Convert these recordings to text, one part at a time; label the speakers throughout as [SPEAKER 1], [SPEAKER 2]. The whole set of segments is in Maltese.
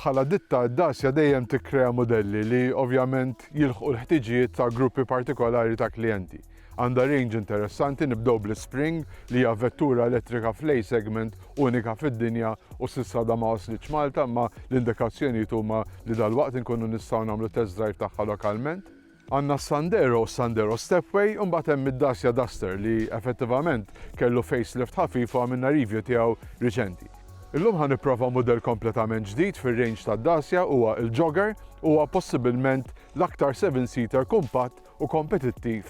[SPEAKER 1] bħala ditta d-dasja dejjem tikkrea modelli li ovvjament jilħqu l-ħtiġijiet ta' gruppi partikolari ta' klijenti. Għandha range interessanti nibdew bl-Spring li hija vettura elettrika fl segment unika fid-dinja u sissa da ma waslitx Malta ma l-indikazzjonijiet huma li dal-waqt inkunu nistgħu nagħmlu test drive tagħha lokalment. Għandna s-Sandero u s-Sandero Stepway u mbagħad hemm id-Dacia Duster li effettivament kellu facelift ħafif u għamilna review tiegħu riċenti. Illum ħa nipprova mudell kompletament ġdid fir-range tad-Dacia huwa l-Jogger, huwa possibilment l-aktar seven-seater kumpatt u kompetittiv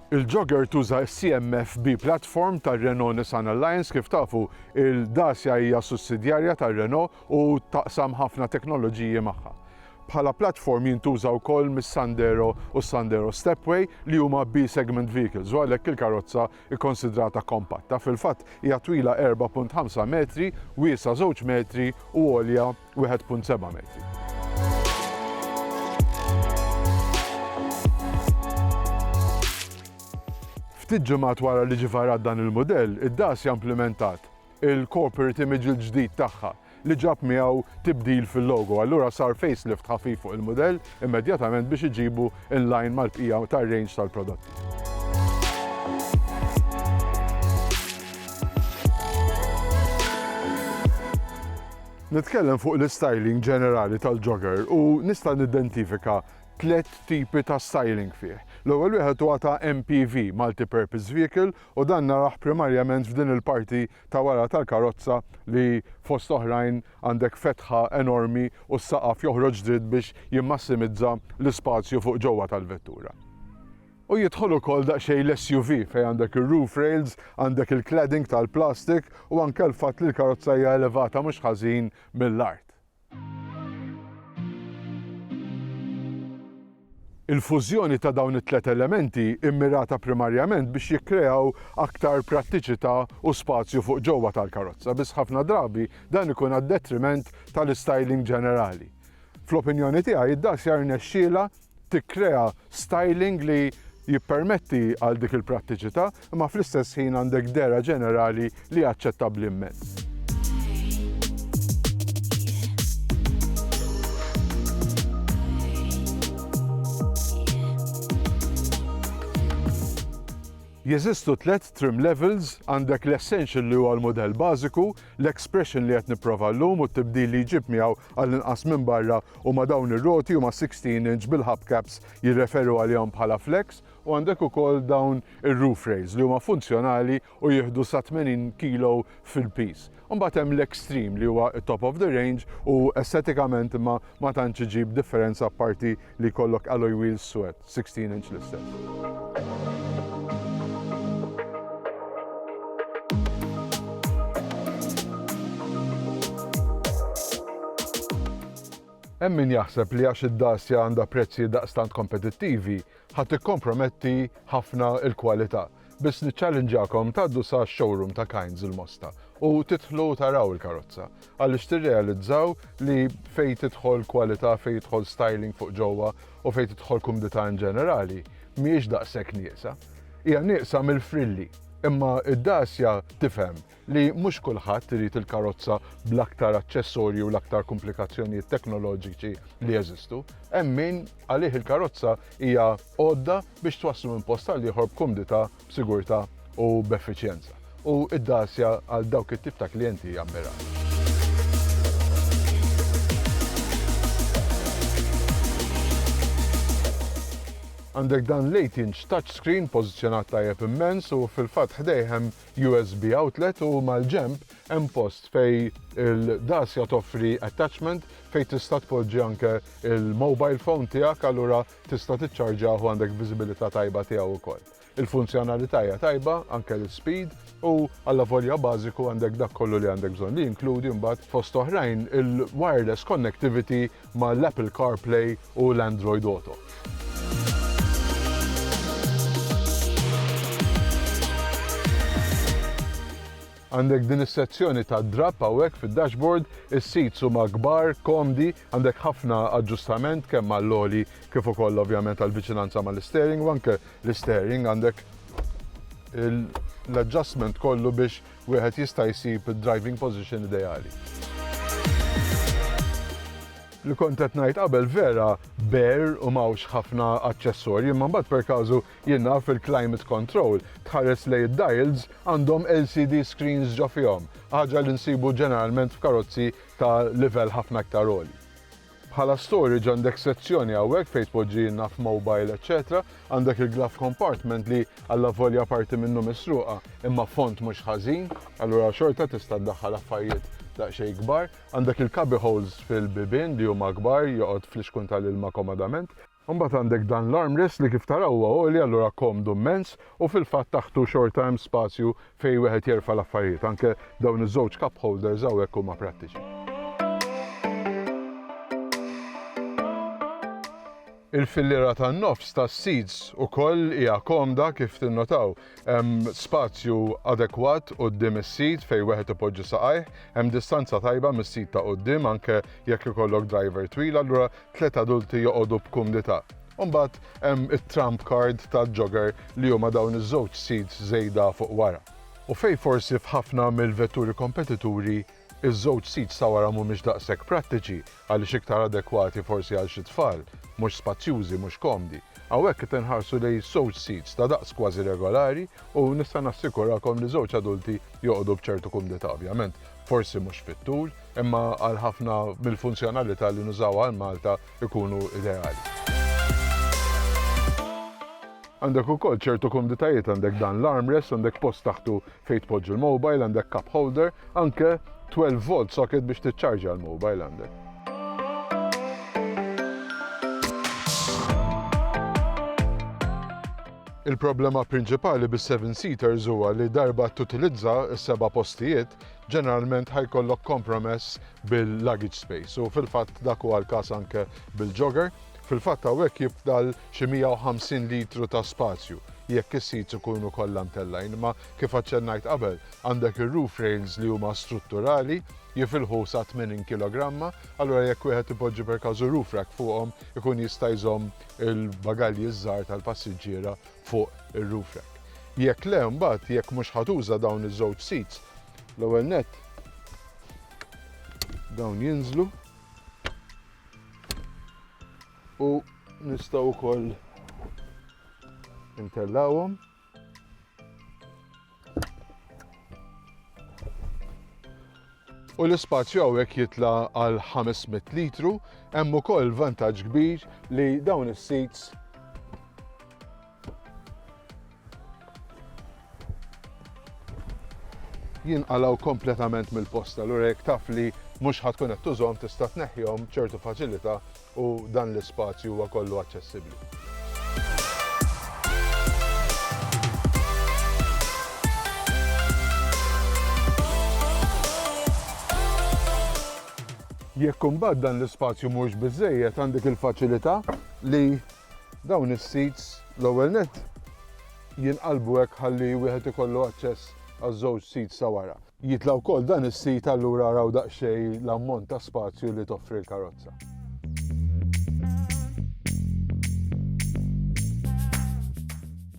[SPEAKER 1] Il-Jogger tuża s-CMF-B platform tar-Renault Nissan Alliance, kif tafu, il-Dacia hija sussidjarja tar-Renault u taqsam ħafna teknoloġiji magħha. Bħala platform jintuża wkoll mis-Sandero u s-Sandero Stepway li huma B-segment vehicles u għalhekk il-karozza kkonsidrata kompatta. Fil-fatt hija twila 4.5 metri, wiesgħa żewġ metri u għolja 1.7 metri. Ftit ġimgħat wara li ġie varat dan il-mudell, id-DAS hija implimentat il-corporate image il-ġdid tagħha li ġab miegħu tibdil fil-logo. Allura sar facelift ħafif fuq il-mudell immedjatament biex iġibu in line mal-bqija tar-range tal-prodotti. Nitkellem fuq l-istyling ġenerali tal-jogger u nista' nidentifika tliet tipi ta' styling fih. L-ewwel wieħed huwa ta' MPV, multi-purpose vehicle, u dan narah primarjament f'din il-parti ta' wara tal-karozza li fost oħrajn għandek fetħa enormi u s-saqaf joħroġ dritt biex jimmassimizza l-ispazju fuq ġewwa tal-vettura. U jidħol ukoll daqsxejn l-SUV fejn għandek ir-roof rails, għandek il-cladding tal-plastik u anke l-fatt li l-karozza hija elevata mhux ħażin mill-art. Il-fużjoni ta' dawn it-tliet elementi mmirata primarjament biex jikkreaw aktar prattiċità u spazju fuq ġewwa tal-karozza, biss ħafna drabi dan ikun għad-detriment tal-istyling ġenerali. Fl-opinjoni tiegħi, d-Dacia rnexxielha tikkrea styling li jippermetti għal dik il-prattiċità, imma fl-istess ħin għandek dehra ġenerali li hija aċċettabbli immens. Jeżistu tliet trim levels, għandek l-essential li huwa l-mudell bażiku, L-expression li qed nipprova llum u t-tibdil li jġib miegħu għallinqas minn barra huma dawn ir-roti huma sixteen inch bil-hubcaps jirreferu għalihom bħala flex u għandek ukoll dawn ir-roof rails li huma funzjonali u jieħdu sa 80 kilo fil-piż. Imbagħad hemm l-extreme li huwa t-top of the range u estetikament imma ma tantx iġib differenza apparti li jkollok alloy wheels swed. 16 inch l-istess. Hemm min jaħseb li għax id-Dacia għandha prezzijiet daqstant kompetittivi, ħa tikkomprometti ħafna l-kwalità. Biss niċċallinġakom tgħaddu sa showroom ta' Kinds il-Mosta u tidħlu taraw il-karozza għaliex tirrealizzaw li fejn tidħol kwalità, fejn jidħol styling fuq ġewwa u fejn tidħol kumdità in ġenerali mhijiex daqshekk nieqsa. Hija nieqsa mill-frilli imma d-dgħasja tifhem li mhux kulħadd irid il-karozza bl-aktar aċċessorji u l-aktar kumplikazzjonijiet teknoloġiċi li jeżistu. Hemm min għalih il-karozza hija għodda biex twasslu minn post għal ieħor b'kumdità, b'sigurtà u b'effiċjenza. U d-Dacia għal dawk it-tip ta' klijenti hija mmirata. Għandek dan l-18 inch touchscreen pożizzjonat tajjeb immens u fil-fatt ħdejh hemm USB outlet u mal-ġenb hemm post fejn il-Dacia toffri attachment fejn tista' tpoġġi anke l-mobile phone tiegħek allura tista' tiċċarġjah u għandek viżibilità tajba tiegħu wkoll. Il-funzjonalità hija tajba, anke l-ispeed, u allavolja bażiku għandek dak kollu li għandek bżonn li jinkludi mbagħad fost oħrajn il-wireless connectivity ma' l-Apple CarPlay u l-Android Auto. Għandek din is-sezzjoni ta' drapp hawnhekk fid-dashboard, is-seats huma kbar, komdi, għandek ħafna aġġustament kemm għall-għoli kif ukoll ovvjament għall-viċinanza mal-isteering u anke l-isteering għandek l-adjustment kollu biex Wieħed jista' jsib id-driving position ideali. Li kont qed ngħid qabel vera bare u m'hawnx ħafna aċċessorji imma mbagħad per każu jien naf il-climate control tħares lejn id-dials għandhom LCD screens ġo fihom, ħaġa li nsibu ġeneralment f'karozzi ta' livell ħafna iktar għoli. Bħala storage għandek sezzjoni hawnhekk fejn tpoġġi naf mobile eċċetera, għandek il-glove compartment li allavolja parti minnu misruqa imma fond mhux ħażin, allura xorta tista' ddaħħal affarjiet daqsxejn kbar, għandek il-cubby holes fil-bibien li huma kbar joqgħod flixkun tal-ilma komodament. Imbagħad għandek dan l-armrest li kif taraw huwa għoli allura komdu mmens u fil-fatt taħtu xorta hemm spazju fejn wieħed jerfa' l-affarijiet. Anke dawn iż-żewġ cup holders hawnhekk huma prattiċi. Il-filliera tan-nofs tas-seats ukoll hija komda kif tinnotaw. Hemm spazju adekwat quddiem is-seat fejn wieħed ipoġġi saqajh, hemm distanza tajba mis-seat ta' quddiem anke jekk ikollok driver twil allura tliet adulti joqogħdu b'kumdità. U mbagħad hemm it-trump card tal-jogger li huma dawn iż-żewġ seats żejda fuq wara. U fejn forsi f'ħafna mill-vetturi kompetituri iż-żewġ seats ta' wara mhumiex daqshekk prattiċi għaliex iktar adekwati forsi għal xi tfal, mhux spazjużi, mhux komdi, hawnhekk qed inħarsu lejn żewġ seats ta' daqs kważi regolari u nista' nassikurakom li żewġ adulti joqogħdu b'ċertu kumdità ovvjament. forsi mhux fit-tul, imma għal ħafna mill-funzjonalità li nużaw għal Malta ikunu ideali. Għandek ukoll ċertu komditajiet għandek dan l-armrest, għandek post taħtu fejn tpoġġi l-mobile, għandek cup holder, anke 12 volt socket biex tiċċarġa l-mobile għandek. Il-problema prinċipali bis-seven-seaters huwa li darba tutilizza s-seba' postijiet, ġeneralment ħa jkollok kompromess bil-luggage space u fil-fatt dak huwa l-każ anke bil-jogger. Fil-fatt hawnhekk jifdal xi 150 litru ta' spazju jekk is-seats ikunu kollha mtellgħin, imma kif aċċennajt qabel, għandek ir-roof rails li huma strutturali jifilħu sa 80 kilogramma, allura jekk wieħed ipoġġi per każu roof rack fuqhom ikun jista' jżomm il-bagalji ż-żgħar tal-passiġġiera fuq ir-roof rack. Jekk le, mbagħad jekk mhux ħa tuża dawn iż-żewġ seats, l-ewwel nett dawn jinżlu u nistgħu wkoll intellawhom u l-ispazju hawnhekk jitla għal 500 litru, hemm ukoll vantaġġ kbir li dawn is-seats jinqalaw kompletament mill-posta l jekk taf li mhux ħatkun qed tużhom tista' tneħħihom b'ċertu faċilità u dan l-ispazju huwa kollu aċċessibbli. Jekk imbagħad dan l-ispazju mhuwiex biżżejjed għandek il-faċilità li dawn is-seats l-ewwel nett jinqalbu hekk ħalli wieħed ikollu aċċess għaż-żewġ seats ta' wara. Jitla' wkoll dan is-sit allura araw daqsxejn l-ammont ta' spazju li toffri l-karozza.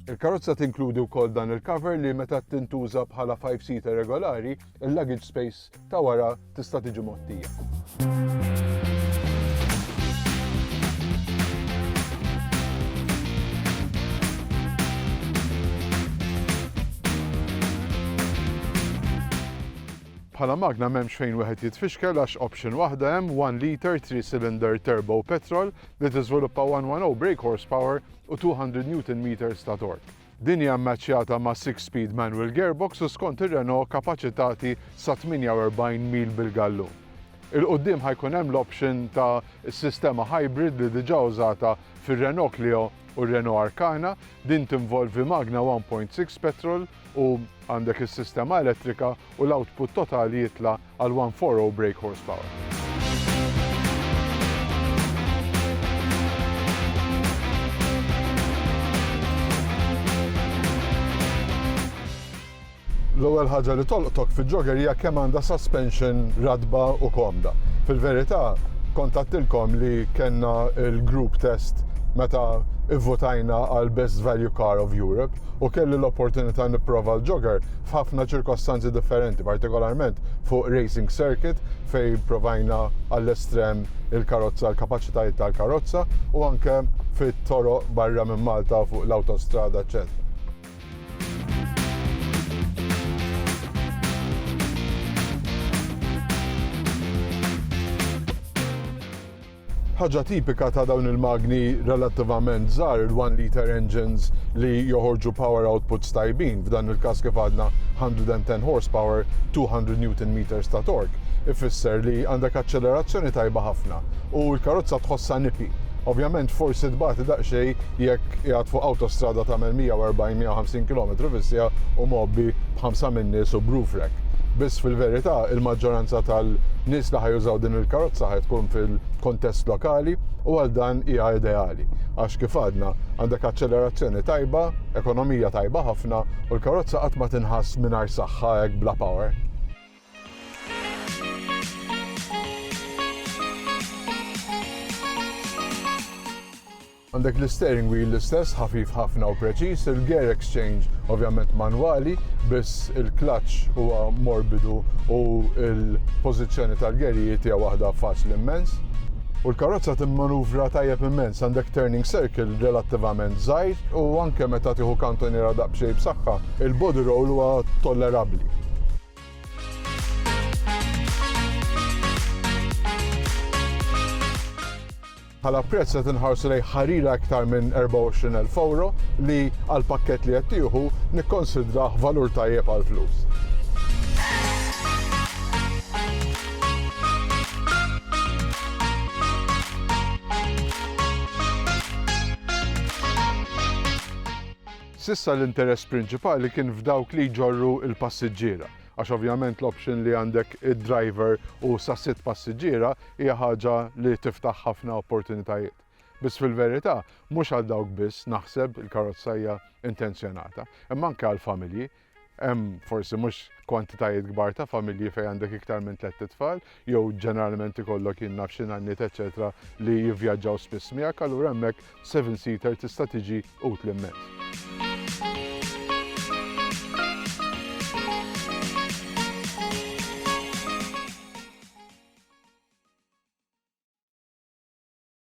[SPEAKER 1] Il-karozza tinkludi wkoll dan il-cover li meta tintuża bħala five-seater regolari, il-luggage space ta' wara tista' tiġi Bħala magna m'hemmx fejn wieħed jitfixkel għax option waħda hemm 1 liter 3 cylinder turbo petrol li tiżviluppa 110 brake horsepower u 200 Newton meters ta' torque. Din hija mmaċċjata ma' six-speed manual gearbox u skont ir-Renault kapaċitati sa 48 mil bil-gallun. 'il quddiem ħa jkun hemm l-option ta' sistema hybrid li diġà użata fir-Renault Clio u r-Renault Arkana, din tinvolvi magna 1.6 petrol u għandek is-sistema elettrika u l-output totali jitla' għal 140 brake horsepower. L-ewwel ħaġa li tolqtok fil-jogger hija kemm għandha suspension ratba u komda. Fil-verità, kont għattilkom li kellna l-group test meta ivvotajna għal Best Value Car of Europe u kelli l-opportunità nipprova l-jogger f'ħafna ċirkostanzi differenti, partikolarment fuq racing circuit fej provajna għall-estrem il-karozza, l-kapaċitajiet tal-karozza u anke fit-toro barra minn Malta fuq l-autostrada, ecc. Ħaġa tipika ta' dawn il-magni relattivament żgħar il-1 liter engines li joħorġu power outputs tajbin, f'dan il-każ kif għadna 110 horsepower, 200 newton meters ta' torque, ifisser li għandek aċċelerazzjoni tajba ħafna u l-karozza tħossha nipi. Ovvjament forsi tbati daqsxejn jekk qiegħed fuq awtostrada tagħmel 140-150 km fis-siegħa u mgħobbi b'ħamsa min-nies u b'roof rack. Biss fil-verità, il-maġġoranza tal-nies li ħajużaw din il-karozza ħaj tkun fil-kontest lokali u għal dan hija ideali. Għax kif għadna, għandek aċċelerazzjoni tajba, ekonomija tajba ħafna u l-karozza qatt ma tinħass mingħajr saħħa hekk bla power. Għandek l-isteering wheel l-istess, ħafif ħafna u preċiż, il-gear exchange ovvjament manwali, biss il-clutch huwa morbidu u l-pożizzjoni tal-gerijiet hija waħda faċli immens. U l-karozza timmanuvra tajjeb immens, għandek turning circle relattivament żgħir u anke meta tieħu kantoniera daqsxejn b'saħħa, il-body roll huwa tollerabbli. Bħala prezz qed inħarsu lejn ħarira iktar minn 24,000 ewro li għall-pakkett li qed tieħu nikkonsidrah valur tajjeb għall-flus. S'issa l-interess prinċipali kien f'dawk li jġorru l-passiġġiera. għax ovvjament l-option li għandek id-driver u sa sitt passiġġiera hija ħaġa li tiftaħ ħafna opportunitajiet. Biss fil-verità, mhux għal dawk biss naħseb il-karozza hija intenzjonata, imma anke għall-familji, hemm forsi mhux kwantitajiet kbar ta' familji fejn għandek iktar minn tlett itfal, jew ġeneralment ikollok jien naf xi nanniet eċċetera li jivvjaġġaw spiss miegħek, allura hemmhekk seven seater tista' tiġi utli immens.